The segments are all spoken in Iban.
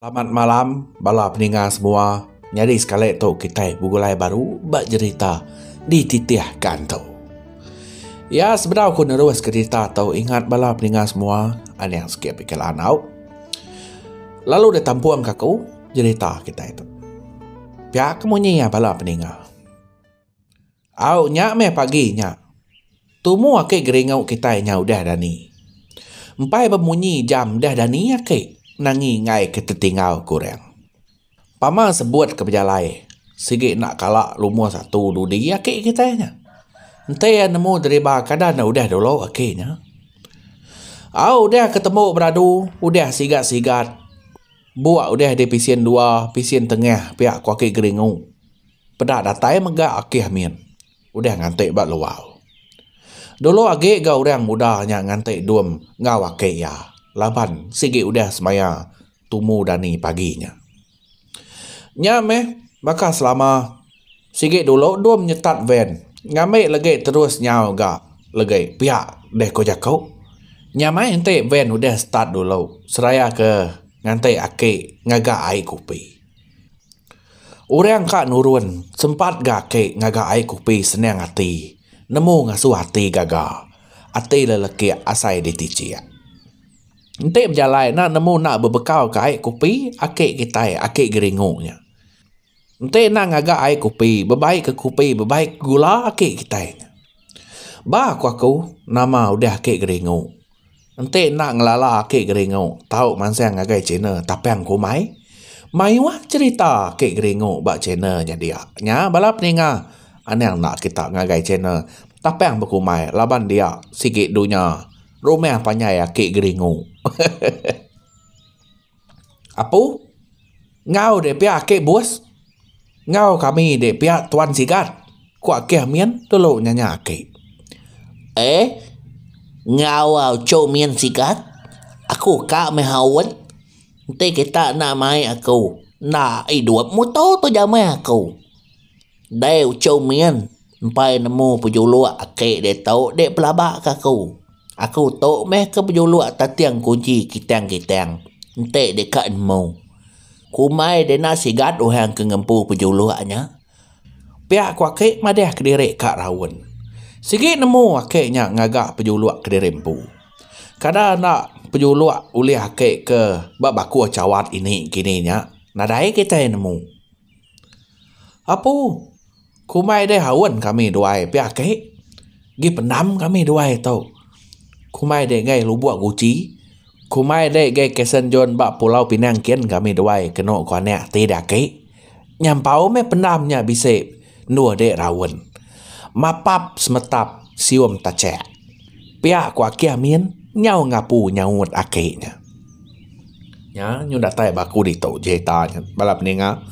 Selamat malam bala peninga semua. Nyadi sekali tu kitai begulai baru ba jerita dititih ka antu. Ya sebedau ku nerus ka jerita tu ingat bala peninga semua aning sikit pikir lanau lalu deh tampung ka ku jerita kitai tu. Pia ke munyi iya bala peninga. Au nya meh pagi nya. Tumu ake geringu kitai nya udah dani. Empai bemunyi jam udah dani ake nangi enggai ke tetinggal ku orang. Pama sebut ke bejalai sigi enda kala lumuh satu dudi ake kitai nya. Enti iya nemu deriba kada ne udah dulu ake nya. Au udah ke tembu beradu udah sigat sigat buk udah di pisen dua pisen tengah pia ku ake geringu. Peda datai mega Akih Amin udah nganti ba luar. Dulu agi ga orang muda nya nganti dum enggau aki iya laban sigi udah semaya tumu dani pagi nya. Nya meh baka selama sigi dulu dum nyetat van ngambi legi terus nyau ga legi pia deh ku jaku. Nya meh enti van udah start dulu seraya ke nganti aki ngaga ai kopi. Orang ka nurun sempat ga ake ngaga ai kopi senang ati nemu ngasuh ati gaga ati le leki asai ditichek. Enti bejalai ena nemu ena bebekau ka ai kopi ake kitai ake geringu nya. Enti ena ngaga ai kopi bebai ke kopi bebai ke gula ake kitai nya. Ba ko aku nama udah ake geringu. Enti enda ngelala aki geringu tau mansang ngagai channel Tapang Kumai, mayuh cherita aki geringu ba channel nya dia. Nya bala peninga anang enda kita ngagai channel Tapang Bekumai laban dia sigi dunya rumah panjai aki geringu. Apu, Enggau deh pia ake bus. Enggau kami deh pia tuan sigat, ku Akih Min tulu nyanya ake. Eh, enggau auchou Min sigat. Aku ka meh awot. Enti kita enda mai aku, enda idup muto tu jameh aku. Ndai uchou min, empai nemu pejuluk ake diatu dik pelaba ke aku. Aku tu meh ke pejuluk tating kunji kitang-kitang enti deka nemu. Kumai dina sigat orang ke ngempu pejuluk nya. Pia ku ake madah kediri ka raun. Sigi nemu ake nya ngaga pejuluk kediri empu. Kada enda pejuluk ulih ake ke ba bakuh chawat ini kini nya nadai kitai nemu. Apu, kumai deh aun kami duai pia ake. Gi pendam kami duai tu. Kumai deh gai lubok guchi. Kumai deh gai kasen jon ba pulau pinang kin kami duai keno ko anak ti deh ake. Nyampau meh pendam nya bisi endur deh raun. Mapap semetap sium tachak. Pia ko ake amin nyau ngapu nyaut ake nya. Nya nyun datai ba aku ditu cerita nya bala peninga.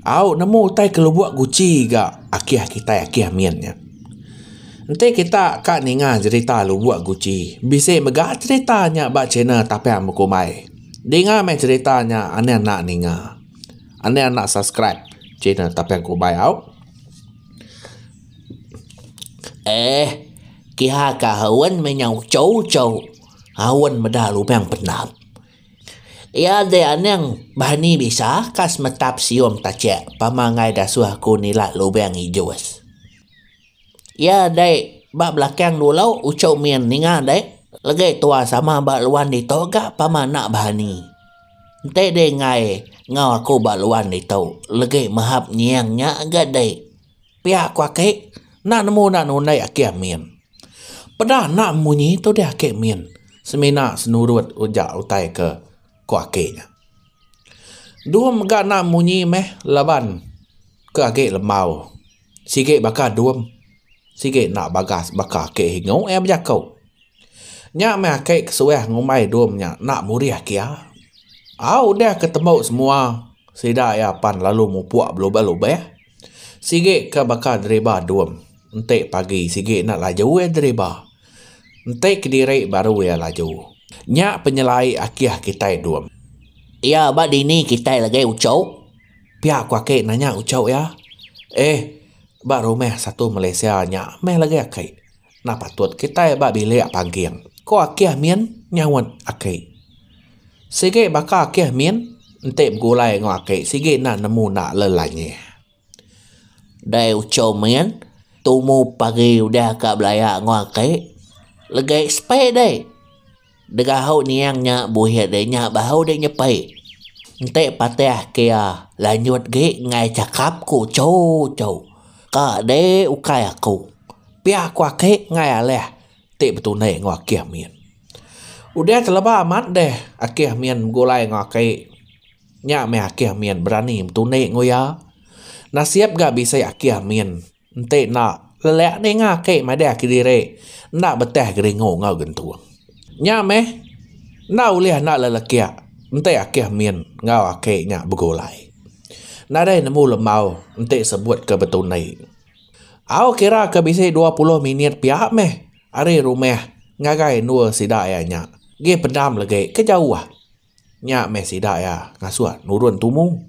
Au nemu utai ke lubok guci ga akih kitai akih min nya. Enti kita ka ninga cerita lubok guci bisi mega cerita nya ba channel Tapian Buku Umai. Dinga meh cerita nya andi enda ninga. Andi enda subscribe channel Tapian Buku Umai au. Eh, kihaka Hawen meh nyau chou-chou. Hawen meda lubang pendam. Iya deh anang berani bisa ka semetap sium tachek pemagai dasuh aku nila lubang ijus. Iya deh ba belakang dulu uchu min ninga deh legi tua sama ba luan ditu ga pama enda berani. Enti deh enggai enggau aku ba luan ditu legi mehap nyieng nya ga deh. Pia ku aki enda nemu enda nundai aki amin. Peda enda munyi tudih aki min semina senurut uja utai ke ku aki nya. Dua mega enda munyi meh laban ke agi lembau sigi baka dum sigi enda bagas baka aki ingu iya bejaku. Nya meh aki kesuah ngumbai dum nya enda murih aki iya. Au udah ke tembu semua sida iya pan lalu mupuk belubih-lubih. Sigi ka baka deriba dum. Enti pagi sigi enda laju iya deriba. Enti kediri baru iya laju. Nya penyelai akih kitai dum. Iya ba dini kitai lagi uchok? Pia ku aki nanya uchok iya. Eh, ba rumah satu Malaysia nya meh lagi aki. Enda patut kitai ba bilik pangking, ku Akih Min nyaut Aki. Sigi baka Akih Min enti begulai enggau Aki sigi enda nemu enda lelangih. Dai uchau Min, tumu pagi udah ka belaya enggau Aki. Legai sepai dai. Degahau niang nya buhit deh nya bahu deh nyepi. Enti patih ke iya lanjut agi enggai chakap ku Cho Cho ka deh ukai aku. Pia ku aki enggai alih ti betundi enggau Akih Min. Udah teleba amat deh Akih Min begulai enggau aki. Nya meh Akih Min berani betundi enggau iya. Nasib ga bisi Akih Min. Enti enda, lelak ninga ake madah kediri enda betah geringu enggau gentung. Nya meh, enda ulih enda lelekak enti akih min enggau ake nya begulai. Nadai nemu lembau enti sebut ke betundi. Au kira ke bisi dua puluh minit pia meh ari rumah ngagai endur sida iya nya, gi pendam legi ke jauh. Nya meh sida iya ngasuh nurun tumu.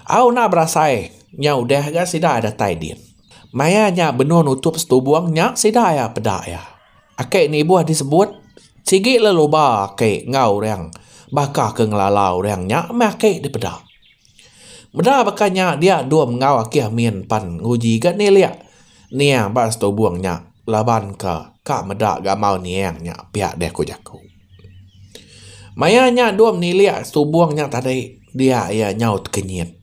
Au enda berasai nya udah ga sida iya datai din. Maya nya benung nutup setubung nya sida iya peda iya. Ake nibuh disebut sigi leluba ake enggau orang baka ke ngelala orang nya meh ake dipeda. Meda baka nya dia dom enggau ake amin pan nguji ga nilik niang ba setubung nya laban ke ka meda ga mau niang nya pia deh ku jaku. Maya nya dok menilik setubong nya tadi dia iya nyau tekenyit.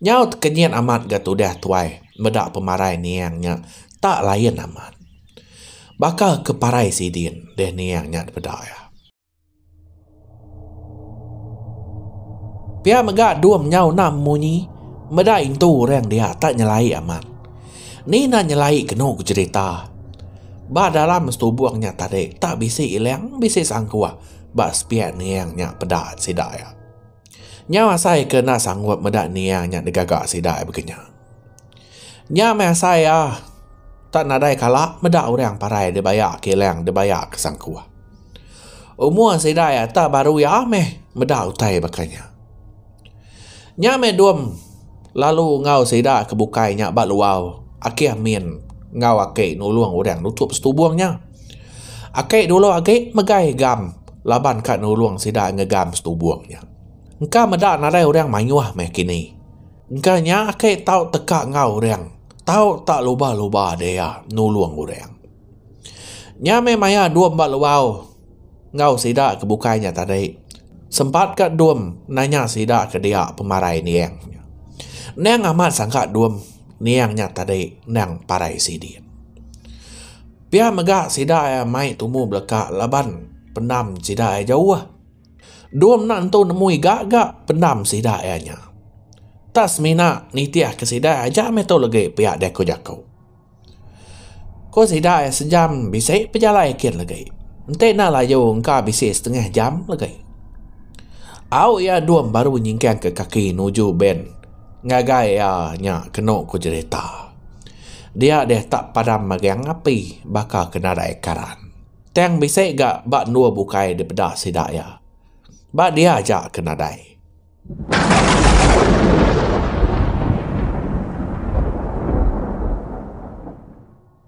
Nyau tekenyit amat ga tudah tuai meda pemarai niang nya tak lain amat. Baka ke parai sidin deh niang nya dipeda iya. Pia mega dom nyau enam munyi meda intu orang dia tak nyelai amat. Ni nan nyelai kenu ku cerita. Ba dalam setubung nya tadi tak bisi ilang bisi sangkuh ba sepiak niang nya peda sida iya. Nyau asai ke enda sanggup meda niang nya digaga sida iya begenya. Nya meh asai iya tak nadai kala meda orang parai dibaya ke ilang dibaya ke sangkuh. Umur sida iya tak baru iya meh meda utai baka nya. Nya meh dom lalu enggau sida ke bukai nya ba luar akih min enggau ake nulong orang nutup setubong nya. Ake dulu agi megai gam laban ka nulong sida ngegam setubong nya. Engka meda nadai orang mayuh meh kini. Engka nya ake tau teka enggau orang, tau ta luba-luba dia nulong orang. Nya meh maya dom ba luar. Enggau sida ke bukai nya tadi. Sempat ka Dum nanya sida ke dia pemarai Neang nya. Neang amat sangka Dum Neang nya tadi endang parai sidin. Pia mega sida iya mai tumu beleka laban pendam sida iya jauh. Dum enda nentu nemu igaga pendam sida iya nya. Tak semina nitihka sida aja meh tu legi pia diaku jaku. Ku sida iya sejam bisi pejalai kin legi enti enda laju engka bisi setengah jam legi. Au iya dum baru nyingkang ka kaki nuju bank ngagai iya nya kenu ku jerita. Dia deh tak padam magang api baka ke nadai karan. Tang bisi ga ba endur bukai dipeda sida iya. Ba dia aja ke nadai.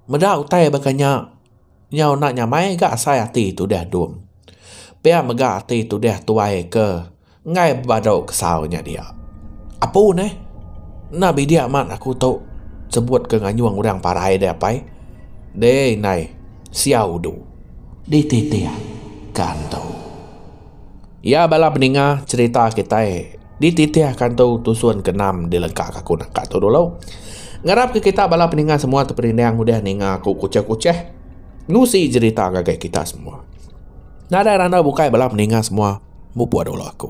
Meda utai baka nya, nya enda nyamai ga asai ati tudah dom. Pia mega ati tudah tuai ke enggai bebadu kesau nya dia. Apu neh, enda bidik amat aku tu sebut ke nganyung orang parai deh apai. Deh indai, sia udu. Dititihka antu. Iya bala peninga cerita kitai dititih kantu tusun ke enam di lengka ke aku naka tu dulu. Ngarap ke kita bala peninga semua tu perindang udah ninga aku kuchah-kuchah ngusi jerita ngagai kita semua. Nadai randau bukai bala peninga semua mupuk dulu aku.